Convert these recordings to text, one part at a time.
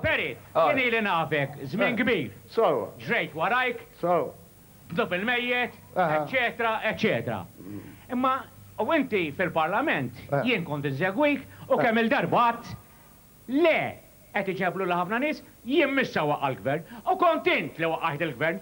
Perry, jien ili nafek żmien kbir. Ġrejt warajk, bdw il-mejjet, eċċetera, eċċetera. Imma u inti fil-Parlament, jien kont insegwik u kemm-il darba għidt, le, qed iġeblulha ħafna nies, jien m'issa waqgħa l-Gvern. U kont int li waqqajt il-Gvern,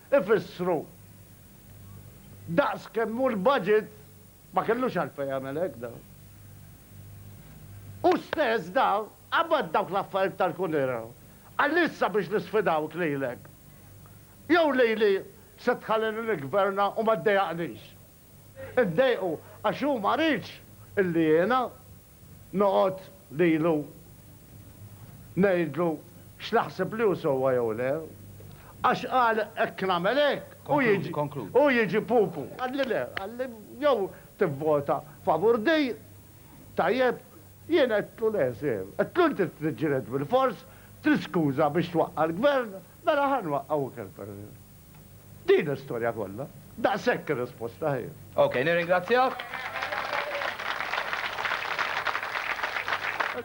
ifissru daqs kemm hu l-budget, ma kellux għalfejn jagħmel hekk da. Hu stess da qabad dawk l-affarijiet tal-kunera qal issa biex nisfidawk lilek jew lili se tħallini niggverna u ma ddejjaqnix. Iddejqu għax hu ma riedx illi jiena noqgħod lilu ngħidlu x'naħseb li hu sewwa jew le. Għax qal hekk nagħmel hekk, hu jiġi pupu. Qalli le, qalli jew tivvota favur di, tajjeb. Jien għedtlu le, sir. Għedtlu inti trid tiġġieled bilfors, trid skuża biex twaqqa' l-Gvern, mela ħa nwaqqa' u kelb. Din l-istorja kollha. Daqshekk ir-risposta hi. Ok, nirringrazzjak.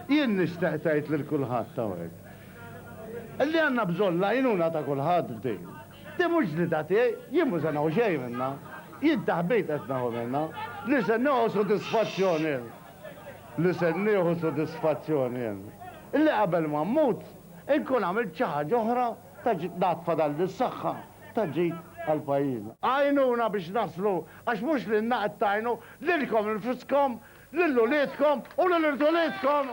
Jien nixtaq tgħid lil kulħadd hawnhekk li għandna bżonn l-għajnuna ta' kulħadd f'din. Din mhux ġlieda tiegħi, jien mhu se neħu xejn minnha. Jien taħbit qed neħu minnha. Li se neħu sodisfazzjon jien. Li se nieħu sodisfazzjon jien. Li qabel ma mmut inkun għamilt xi ħaġa oħra. Ta' ġid nagħtfa dan lis-saħħa ta' ġid għal pajjiżna. Għinuna biex naslu għax mhux lilna qed tgħinu, lilkom infuskom, lil uliedkom u lil irdulidkom!